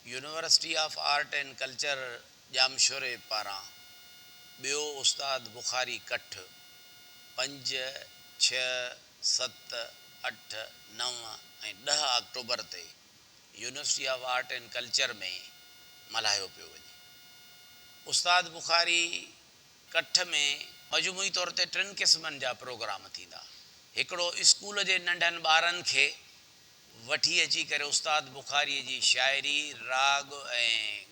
University of art and culture Jamshoro پاران ٻيو استاد بخاري ڪٺ پنج، ڇهه، ست، اٺ، نو ۽ ڏهه آڪٽوبر تي university of art and culture ۾ ملهايو پيو وڃي. استاد بخاري ڪٺ ۾ مجموعي طور تي ٽن قسمن جا پروگرام ٿيندا. هڪڙو اسڪول جي ننڍن ٻارن کي وٺي اچي ڪري استاد بخاريء جي شاعري، راڳ ۽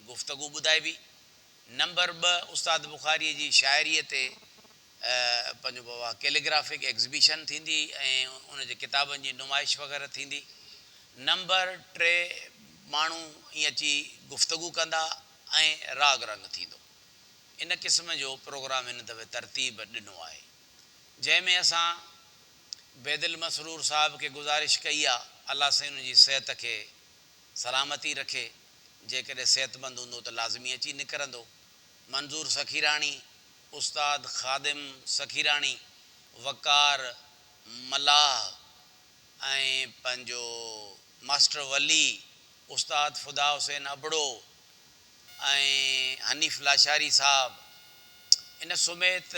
گفتگو ٻڌائبي. نمبر ٻه استاد بخاريء جي شاعريء تي پنهنجو به اها ڪيليگرافڪ ايگزبيشن ٿيندي ۽ ان جي ڪتابن جي نمائش وغيره ٿيندي. نمبر ٽي ماڻهو ائين اچي گفتگو ڪندا ۽ راڳ رنگ ٿيندو. ان قسم جو پروگرام هن دفعي ترتيب ڏنو آهي. جنهن ۾ اسان. بيدل مسرور صاحب کي گذارش ڪئي آ الله سائين ان جي صحت کي سلامتي رکي جيڪڏهن صحتمند هوندو ته لازمي اچي نڪرندو منظور سخيراڻي استاد خادم سخيراڻي وقار ملاح ۽ پنهنجو ماسٽر ولي استاد فدا حسين ابڙو ۽ حنيف لاشاري صاحب ان سميت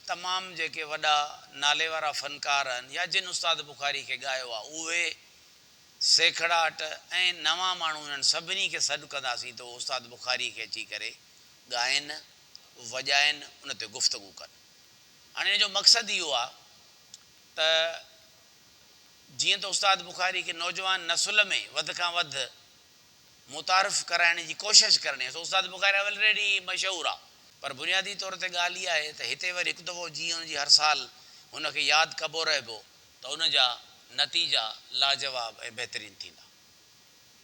تمام جيڪي وڏا نالي وارا فنڪار آهن يا جن استاد بخاري کي ڳايو آهي اهي سيکڙاٽ ۽ نوان ماڻهو انهن سڀني کي سڏ ڪنداسين ته اهو استاد بخاري کي اچي ڪري ڳائين وڄائين ان تي گفتگو ڪن هاڻي ان جو مقصد اهو آهي ته جيئن ته استاد بخاري کي نوجوان نسل ۾ وڌ کان وڌ متعارف ڪرائڻ جي ڪوشش ڪرڻي آهي سو استاد بخاري آف الريڊي مشهور آهي پر بنيادي طور تي ڳالهه اها آهي ته هتي وري هڪ دفعو جيئن هن جي هر سال هن کي ياد ڪبو رهبو ته ان جا نتيجا لاجواب ۽ بهترين ٿيندا.